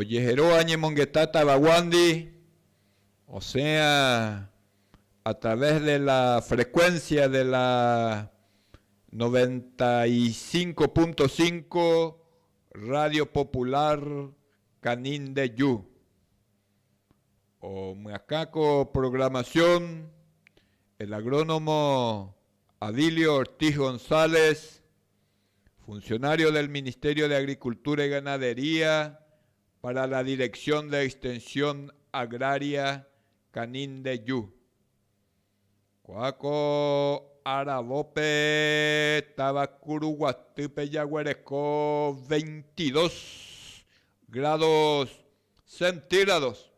Ojeheróva ñemongeta tavaguándi, osẽa a través de la frecuencia de la noventa y cinco punto cinco Radio Popular Canindeju. Omyakã ko programación el agrónomo Adilio Ortiz González, Funcionario del Ministerio de Agricultura y Ganadería para la Dirección de Extensión Agraria Canindeyu. Kuáko aravópe táva Kuruguatýpe jaguereko veintidós grados centígrados.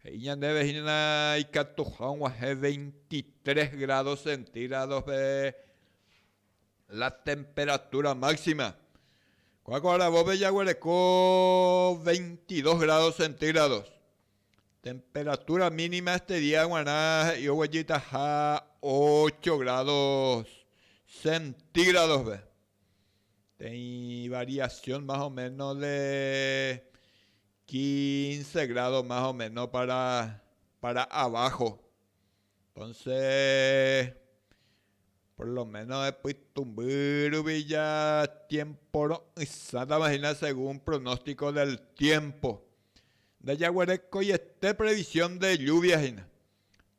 He'i ñandéve hína ikatuha og̃uahẽ veintitrés grados centígradospe La temperatura máxima. Kuáko aravópe jaguereko veintidós grados centígrados. Temperatura mínima este día g̃uarã he'i oguejytaha ocho grados centígradospe. Peteĩ variación más o menos de quince grados más o menos para abajo. Entonce, por lo menos epytũmby rupi ja tiempo ro'ysãtava hína según pronóstico del tiempo. Ndajaguerekoiete previsión de lluvia hína.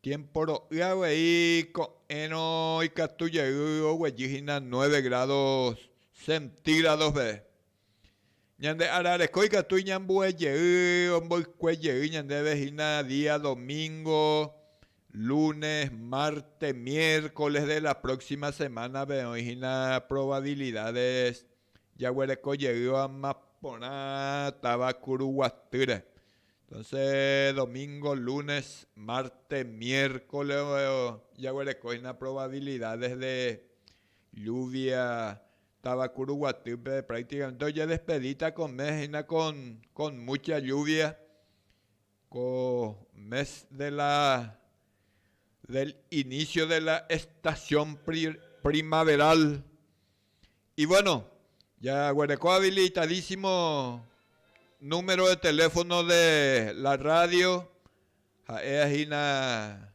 Tiempo ro'y avei ko'ẽrõ ikatu jey oguejy hína nueve grados centígrados peve. Ñande ára reko ikatu iñambue jey, omboykue jey ñandéve hína día domingo, lunes, martes, miércoles de la próxima semana-pe oĩ hína probabilidades jaguereko jeýva porã táva Kuruguatýre. Entonces domingo, lunes, martes, miércoles jaguereko hína probabilidades de lluvia Tavakuru guatýpe prácticamente ojedespedíta ko mes hína con, con mucha lluvia, ko mes de la, del inicio de la estación primaveral. Y bueno, ya guerekó habilitadísimo número de teléfono de la radio, ha'éa hína.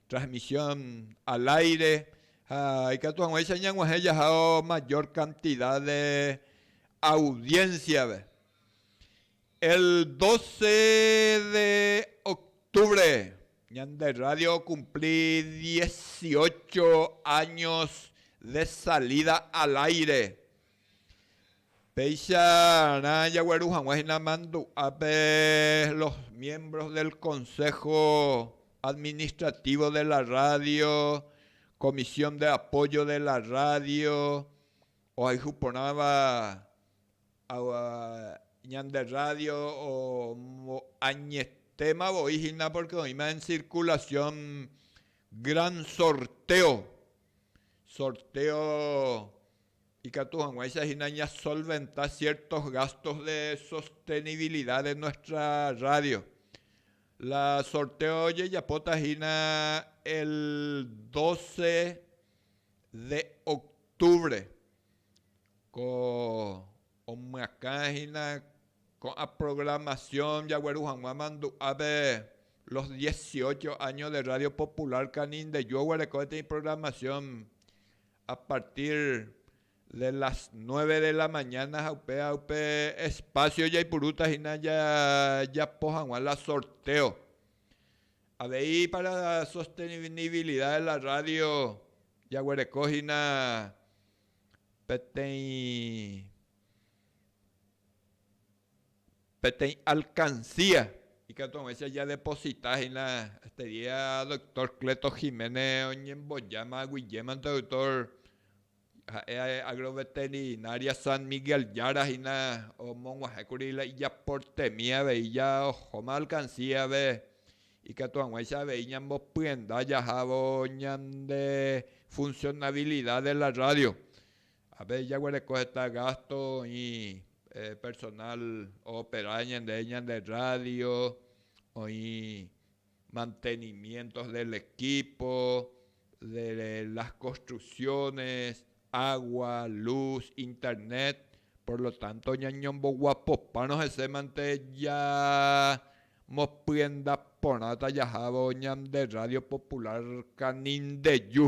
Transmisión al aire ha ikatu hag̃uáicha ñag̃uahẽ jahao mayor cantidad de audiencia-pe. El 12 de octubre ñande radio okumpli dieciocho años de salida al aire. Péicha rã jagueru hag̃ua hína mandu'ápe los miembros del Consejo Administrativo de la Radio, Comisión de Apoyo de la Radio, ohayhu porãva ñande rrádio añetéma voi hína pórke oĩma en circulación gran sorteo, sorteo, Ikatu hag̃uáicha hína ñasolventa ciertos gastos de sostenibilidad de nuestra radio. La sorteo jejapóta hína el doce de octubre, ko omyakã hína ko'ã programación jagueru hag̃ua mandu'ápe los dieciocho años de Radio Popular Canindeyú oguereko peteĩ programación A partir de las nueve de la mañana ha upéva upe espacio jaipurúta hína jajapo hag̃ua la sorteo. Avei para sostenibilidad de la radio jaguereko hína peteĩ Peteĩ alcancía ikatu ag̃uáicha jadeposita hína este día doctor Cleto Jiménez oñembojáma aguijemanto doctor ha'e agroveterinaria San Miguel Yara hína omog̃uahẽkuri la ijaportemi avei ja ohóma alcancía-pe ikatu ag̃uáicha avei ñambopyenda jahávo ñande funcionabilidad de la radio Avei jaguereko heta gásto oĩ personál oopera ñandéve ñande rrádio, oĩ mantenimiéntos del equípo, de las construcciones, água, lús, internet, por lo tánto ñañomboguapopárõ hese mante ñamopyenda porãta jahávo ñande rrádio popular Canindeju.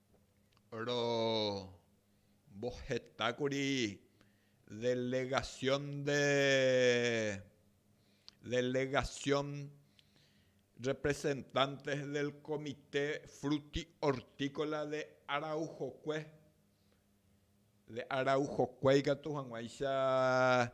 Rombohetákuri delegasión de delegasión representantes del Comité Fruti-Hortícola de Araujokue, de Araujokue ikatu hag̃uáicha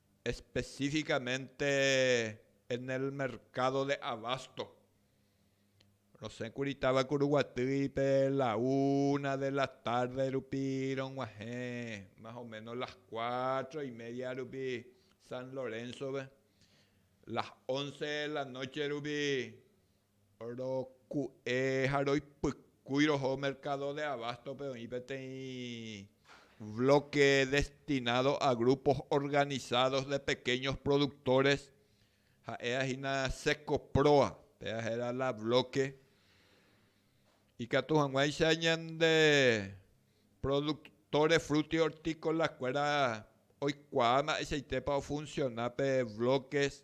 específicamente en el mercado de abasto. Rosẽkuri táva Kuruguatýipe la una de la tarde rupi rog̃uahẽ más o menos las cuatro y media rupi San Lorenzo-pe, las once de la noche rupi Roku'e ha roipykúi roho mercado de abasto-pe oĩ peteĩ bloque destinado a grupos organizados de pequeños productores, ha'éva hína Secoproa, péva héra la bloque, ikatu hag̃uáicha ñande productores frutihortícolas-kuéra oikuaa mba'eichaitépa ofunciona pe bloques.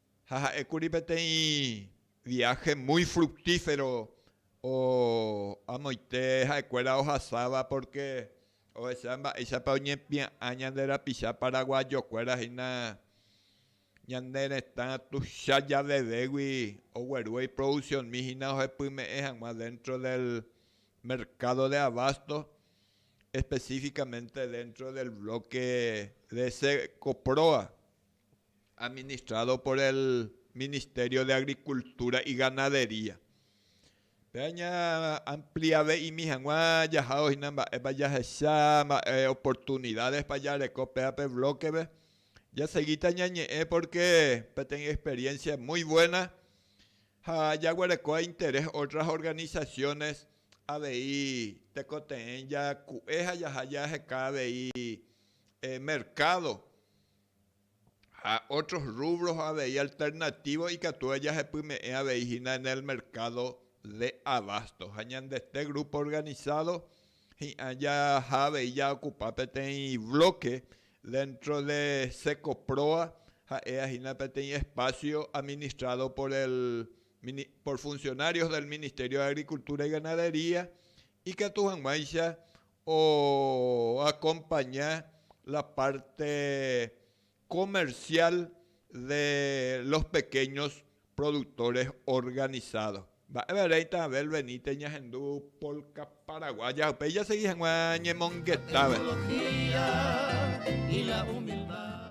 ha ha'ékuri peteĩ viáhe muy fructífero amoite ha'ekuéra ohasáva pórke ohecha mba'éichapa oñempia'ã ñande rapicha paraguayokuéra hína ñane retã tuicha javevégui ogueru oiprodusionmi hína ohepyme'ẽ hag̃ua déntro del merkádo de abásto, espesífikamente déntro del blóke de Ecoproa. administrado por el Ministerio de Agricultura y Ganadería. Pe aña amplia ve'imi hag̃ua jahávo hína mba'épa jahecha, mba'e oportunidades-pa jareko pe ape bloque-pe. Jasegíta ñañe'ẽ porque peteĩ experiencia muy buena ha jaguerekóva interés otras organizaciones avei tekotevẽ jaku'e ha jaha jaheka avei mercado. ha otros rubros avei alternativos ikatu jajepyme'ẽ avei hína en el mercado de abasto ha ñandete grupo organizado hi'ã jaha avei ja ocupa peteĩ bloque dentro de Secoproa ha'éa hína peteĩ espacio administrado por el por funcionarios del Ministerio de Agricultura y Ganadería ikatu hag̃uáicha oakompaña la párte komersiál de los pekéños produktores organisádos. Mba'épa réita Abel Benítez ñahendu polka paraguaya upéi jasegi hag̃ua ñemongetave.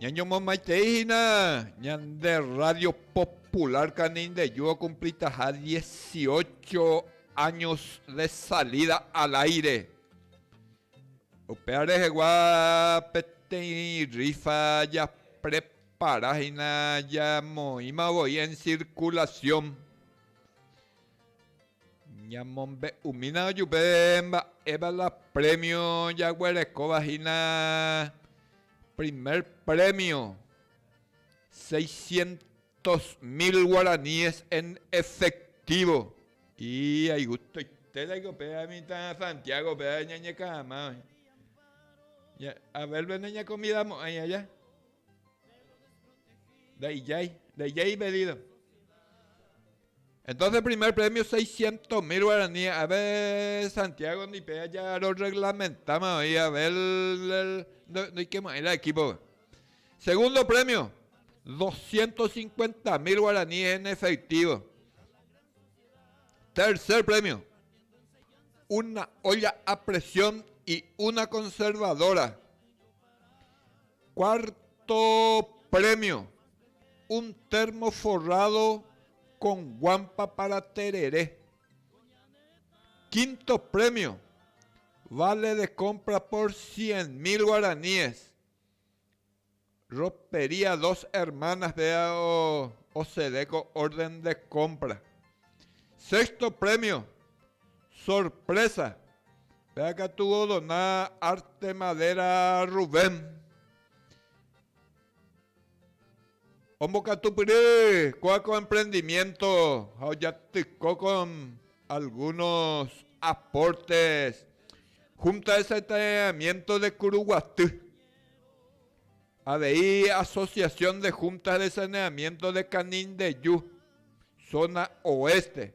Ñañomomaitei hína ñande Rrádio Popular Canindeyũ okumplitaha dieciocho áños de salida al áire. Upéva rehegua peteĩ rrífa japrepara hína jamoĩma voi en circulación. Ñamombe'umína ojupe mba'épa la prémio jaguerekóva hína. Primer prémio, seiscientos mil guaraníes en efectivo. Aigustoitérake upe mitã Santiágope ñañeka'ama oĩ. Abélpe nañakomidamo'ãi aja. Ndaijái, ndaijái ipedído. Entonce primer premio seiscientos mil guarani ave Santiago ndipe aja rorreglamentáma oĩ ave ndoikemy'ãi la equípope. Segundo premio doscientos cincuenta mil guarani en efectivo. Tercer premio una olla a presión y una conservadora. Cuarto premio, un termo forrado con guampa para tereré. Quinto premio, vale de compra por 100 mil guaraníes. Ropería Dos Hermanas vea o sedeco orden de compra. Sexto premio, Sorprésa! Péva katu odona arte madéra Rubén. Ombokatupyry kóva ko emprendimiénto ha ojatyko kon algúnos apórtes Húnta de Sanetaneamiénto de Kuruguaty. Avei Asosiasión de Húntas de Saneamiénto de Kanindeju, zóna oéste.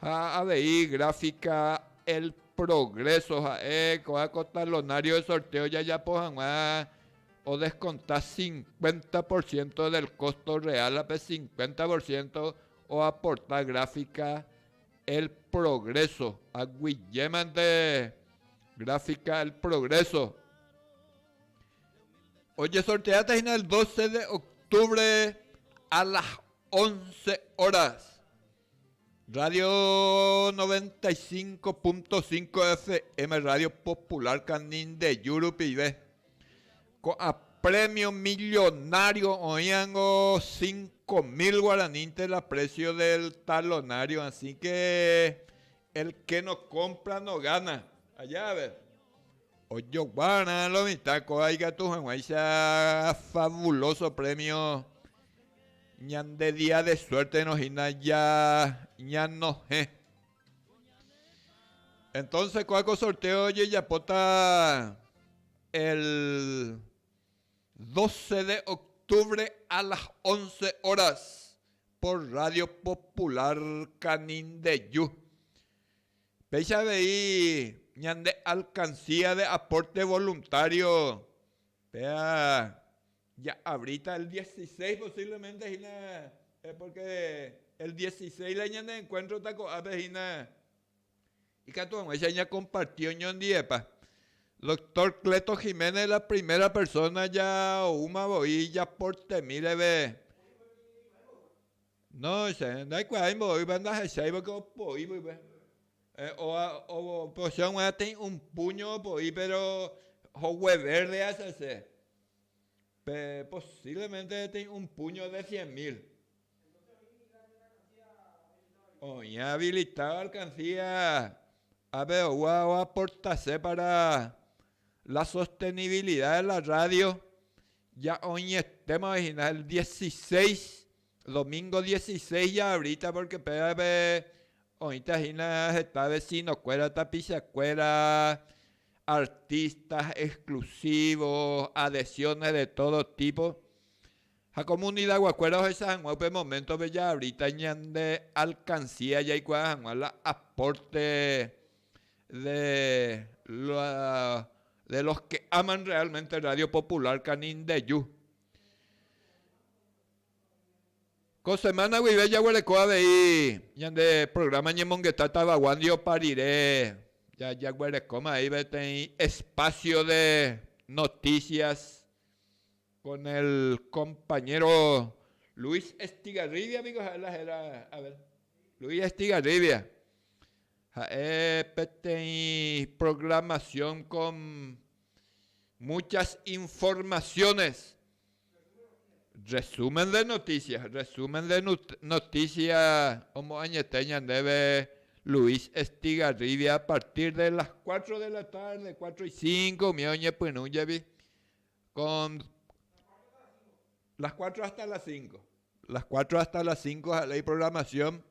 Ha avei gráfica El Progreso ha'e ko'ã ko talonario de sorteo jajapo hag̃ua odeskonta cincuenta por ciento del costo real ha pe cincuenta por ciento oaporta gráfica El Progreso aguiémante gráfica El Progreso ojesorteáta hína el doce de octubre a las once horas. Radio noventa y cinco punto cinco FM Radio Popular Canindeyu rupive. Ko'ã premio millonario oĩango cinco mil guaranínte la precio del talonario, así que el que no compra no gana. Allá a ver. Ojoguárõ lo mitã kóva ikatu hag̃uáicha fabuloso premio ñande día de suérteno hína ñanohẽ. Entonce kóva ko sorteo ojejapóta el 12 de octubre a las 11 horas por Radio Popular Canindeyu. Péicha avei ñande alcancía de aporte voluntario, péa ja'avríta el dieciséis posiblemente hína, porque el dieciséis la ñande encuentro-ta ko'ápe hína, ikatu hag̃uáicha ñakomparti oñondivepa. Doctor Cleto Jiménez la primera persona jaoúma voi japortemíreve. No, che ndaikuaái mboýva ndahecháivo ko opoi pype. Oa oposión g̃uarã tei un puño opoi péro hogue verde acha che. Pe posiblemente tei un puño de cien mil. Oĩ habilitado alcancía ápe oúva oaporta che para la sostenibilidad de la radio, ja oĩetémavai hína el dieciséis Domingo dieciséis ya abríta pórke pévape oĩta hína heta vesinokuéra, tapichakuéra, artistas exclusivos, adhesiones de todo tipo. Ha comunidaguakuéra ohecha hag̃ua upe moméntope jaabríta ñande alcancía jaikuaa hag̃ua la aporte de la, de los que aman realmente Radio Popular Canindeyú. Ko semana guive jaguereko avei ñande programa Ñemongeta Tavagua ndiopa rire, jaguerekóma avei peteĩ espacio de noticias con el compañero Luis Estigarribia piko ha'e la héra, a ver, Luis Estigarribia, ha'e peteĩ programación con muchas informaciones Resumen de noticias, resumen de noticia omoañete ñandéve Luis Estigarribia a partir de las cuatro de la tarde, cuatro y cinco umi oñepyrũ jevy con las cuatro hasta las cinco, las cuatro hasta las cinco ja'e la iprogramación.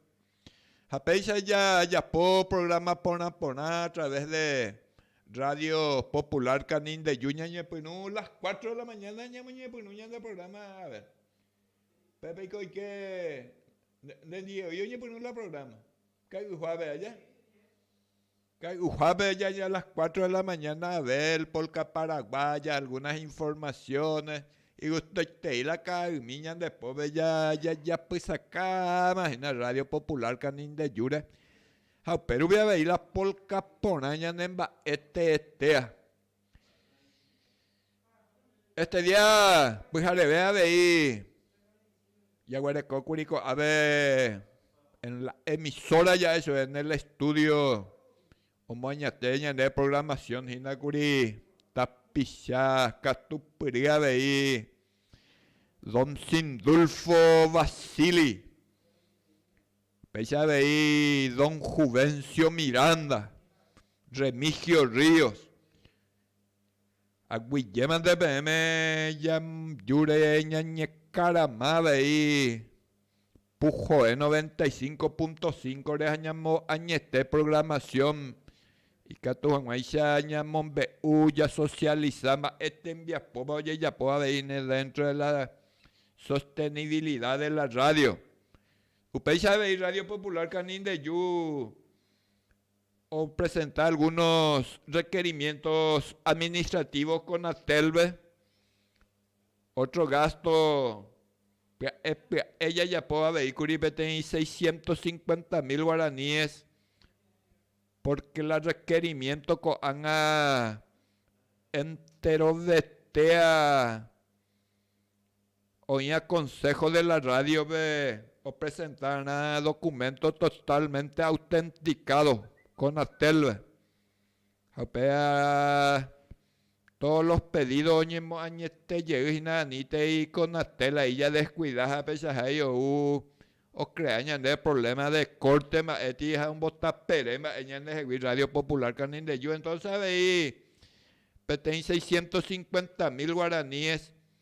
Ha péicha ajapo programa porã porã a través de Radio Popular Canindeyu ñañepyrũ las cuatro de la mañana ñamoñepyrũ ñande programa a ver. Pépe eiko oike nde ndive voi oñepyrũ la programa kay'uhuave aja. Kay'uhápe ajaja a las cuatro de la mañana Abel, polka paraguaya, algunas informaciones, igustoitei la ka'aymi ñande pópe jajapysakáma hína Radio Popular Canindeyúre, ha upérupi avei la polka porã ñanemba'e teetea. Este día pyhareve avei jaguerekókuri ko'ápe en la emisora ya eso es en el estudio omoañete ñande programación hína kuri tapicha katupyry avei Don Sindulfo Vasili Péicha avei don Juvencio Miranda, Remigio Ríos, aguyjémante peẽme jajúre ñañekarama avei Pujoe 95.5-re ha ñamoañete programación ikatu hag̃uáicha ñamombe'u jasocialisa mba'e tembiapópa ojejapo aveíne dentro de la sostenibilidad de la radio. Upéicha avei Radio Popular Canindeyu opresenta algunos requerimientos administrativos Conatel-pe, otro gasto pya'e pya'e jajapo avei kuri peteĩ seiscientos cincuenta mil guaraníes, porque la requerimiento ko'ág̃a enterovetéa Oĩva Consejo de la Radio-pe opresentárõ documento totalmente autenticado Conatel-pe, ha upéva todos los pedidos oñemoañete jey hína anítei Conatel ahí ya descuida ha pechahái ou ocrea ñandéve problema de corte mba'éti ha ombotapere mba'e ñandehegui Radio Popular Canindeyu, entonces avei peteĩ seiscientos cincuenta mil guaraníes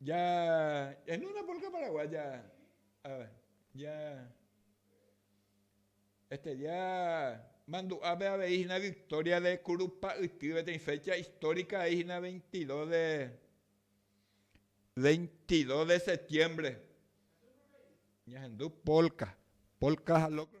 Ja, en una polka paraguaya, a ver, ja estudia mandu'ápe avei hína victoria de Curupa'yty peteĩ fecha histórica he'i hína veintidós de, veintidós de septiembre. Ñahendu polka, polka ha locro.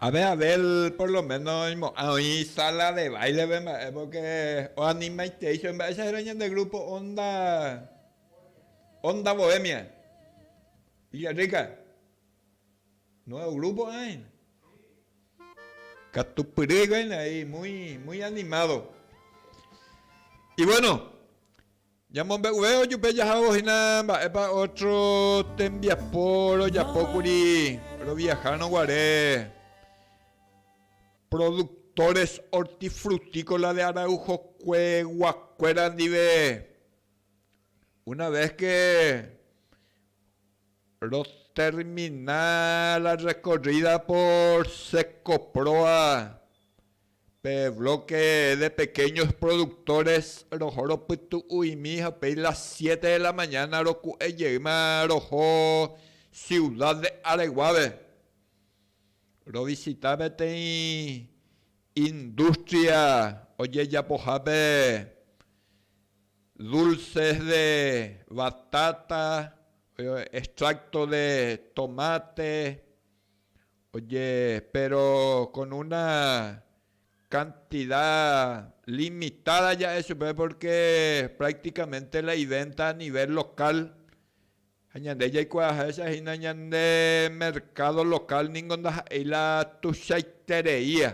Ave Abel por lo méno oimo'ã oĩ sala de báilepe mba'e, pórke oanimaitei chéve. Mba'éicha héra ñande grúpo Onda, Onda Bohemia, Villarrica? Nuévo grúpo aína. Katupyry hikuái nai, muy, muy animado. Ivuéno, Ñamombe'uve ojupe jahávo hína mba'épa ótro tembiapo rojapókuri roviahárõ guare. Productores hortifrutícola de Araujokue guakuéra ndive, una vez que rotermina la recorrida por Secoproa, Pe bloque de pequeños productores roho ropytu'uimi ha upéi las siete de la mañana roku'e jeýma roho Ciudad de Areguápe rovisita peteĩ industria ojejapohápe dulces de batata, extracto de tomate, Oye, péro kon una kantida limitáda ja'e chupe pórke práktikamente la ivénta anivél lokál. Ha ñande jaikuaaháicha hína ñande merkádo lokál ningo ndaha'éi la tuichaitereia.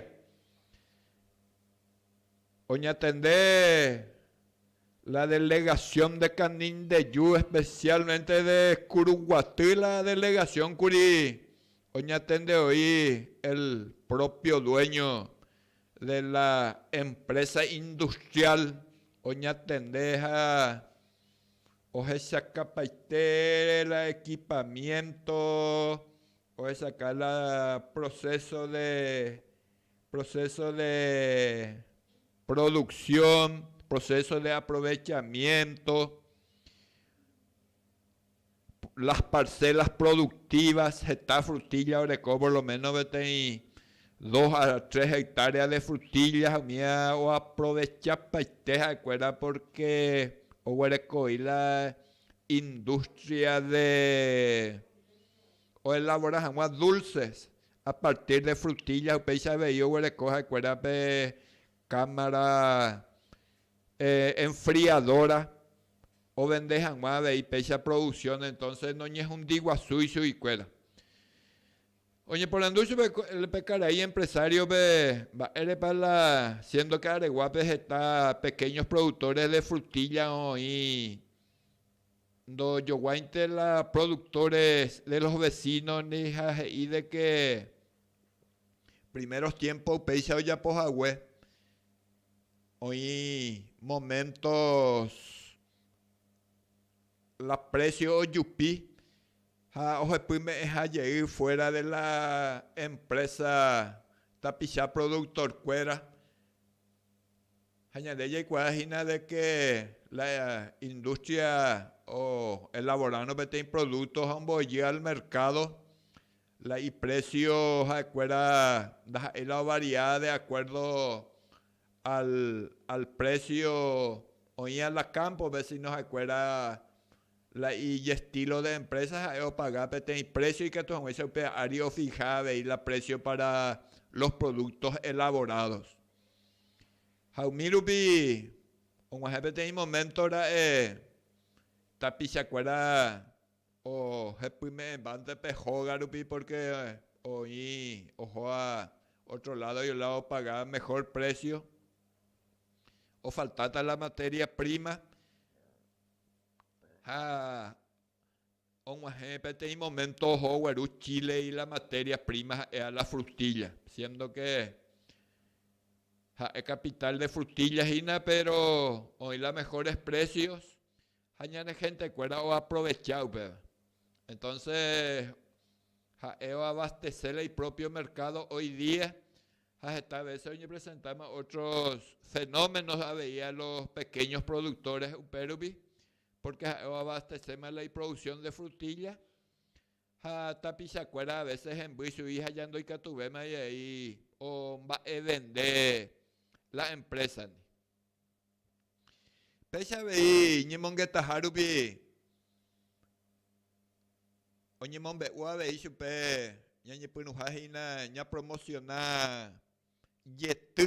Oñatende la delegación de Canindeyú, especialmente de Curuguaty la delegación kuri oñatende oĩ el propio dueño de la empresa industrial oñatende ha ohechakapaite la equipamiento ohechaka la proceso de Proceso de producción, proceso de aprovechamiento, las parcelas productivas, heta frutilla oreko por lo menos peteĩ dos a tres hectáreas de frutilla umi oaprovechapaite ha'ekuéra porque oguerekoi la industria de oelabora hag̃ua dulces A partir de frutilla upéicha avei oguereko ha'ekuéra pe cámara enfriadora ovende hag̃ua avei péicha producción entonces noñehundi guasúi chuguikuéra. Oñeporandu chupe pe karai empresario-pe mba'érepa la siendo que areguápe heta pequeños productores de frutilla oĩ. Ndojoguáinte la productores de los vecinos ni ha he'i de que primeros tiempo upéicha ojapo hague oĩ momentos la precio ojupi ha ohepy me'ẽha jey fuera de la empresa tapicha productor-kuéra. Ha ñande jaikuaa hína de ke la industria oelavorárõ peteĩ producto ha omboyy al mercado, la iprecio ha'ekuéra ndaha'éi la ovaria de acuerdo al precio oĩva la campo-pe, sino ha'ekuéra la iestilo de empresa ha'e opaga peteĩ precio ikatu hag̃uáicha upe ári ofija avei la precio para los productos elaborados. Ha umi rupi og̃uahẽ peteĩ moménto ra'e tapichakuéra ohepyme'ẽvánte pe hóga rupi pórke oĩ ohóva ótro ládo la opaga mehór présio, ofaltáta la matéria príma ha Og̃uahẽ peteĩ momento oho gueru Chile-i la materia prima ha'eha la frutilla, siendo que ha'e capital de frutilla hína, pero oĩ la mejores precios ha ñane gentekuéra oaprovecha upéva. Entonces ha'e oabastece la ipropio mercado hoy día ha heta veces oñepresentama otros fenómenos avei a los pequeños productores upérupi Pórke ha'e oabasteséma la iproduksión de frutilla ha tapichakuéra avese hemby chugui ha ja ndoikatuvéma jey omba'evende la emprésa-ni. Péicha avei ñemongetaha rupi oñemombe'u avei chupe ñañepyrũha hína ñapromosiona jety.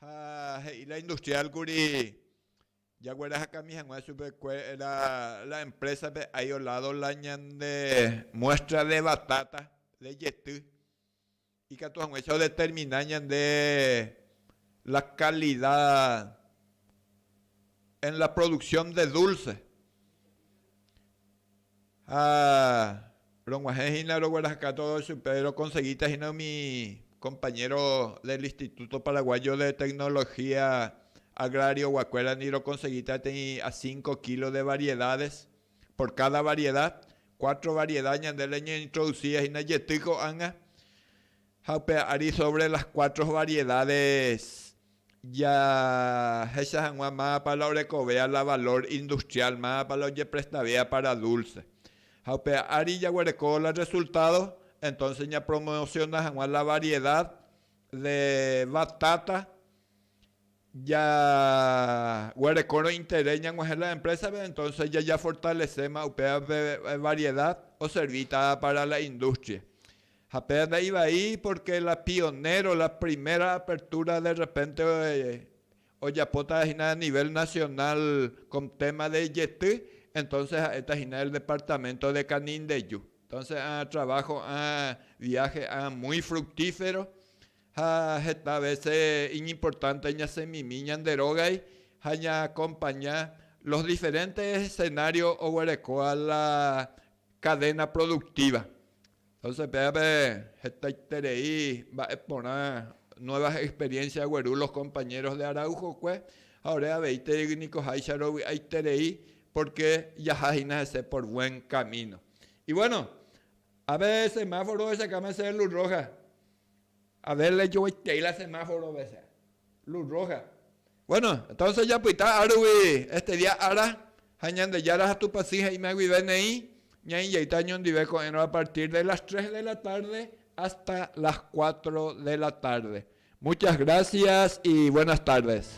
Ha he'i la industrial kuri, jaguerahakami hag̃ua chupe kuéra la empresa pe hay o lado la ñande muestra de batata de jety, ikatu hag̃uáicha o determina ñande la calidad en la producción de dulce. Ha rog̃uahẽ hína rogueraheka tódo chupe, rokonsegíta hína umi kompañéro del Instituto Paraguayo de Tecnología Agrarioguakuéra ningo rokonsegíta teĩ a cinco kilo de variedades, por cada variedad, cuatro variedad ñande reñointrodusíva hína jety ko'ág̃a. Ha upe ári sobre las cuatro variedades jahecha hag̃ua máva la orekovéva la valor industrial, máva la ojeprestavéva para dulce. Ha upe ári jaguereko la resultado, entonces ñapromociona hag̃ua la variedad de batata Jaguerekórõ interés ñag̃uahẽ la empresa-pe, entonces jajafortalece-ma upéva pe variedad oservíta para la industria. Ha péva nda'ivai porque la pionero, la primera apertura de repente ojapóta hína a nivel nacional con tema de jety, entonces ha'éta hína el departamento de Canindeyu. Entonces ã trabajo, ã viaje ã muy fructífero, Ha heta vece iñimportánte ñasẽmimi ñande rógay ha ñaakompaña los diferentes escenarios oguerekóva la cadena productiva. Entonces pévape hetaiterei mba'e porã nuevas experiencias ogueru los compañeros de Araujokue ha ore aveitei niko háicha rovy'aiterei porque jaha hína hese por buen camino. Y bueno, ave semáforo ohechakáma ese de luz roja, A ver rejogueitei la semáforo vece, luz roja. Bueno, entonces japyta a ruvi este día ára ha Ñandejára ha Tupãsy he'íma guive neĩ ñaĩjeýta ñondive ko'ẽrõ a partir de las tres de la tarde hasta las cuatro de la tarde. Muchas gracias y buenas tardes.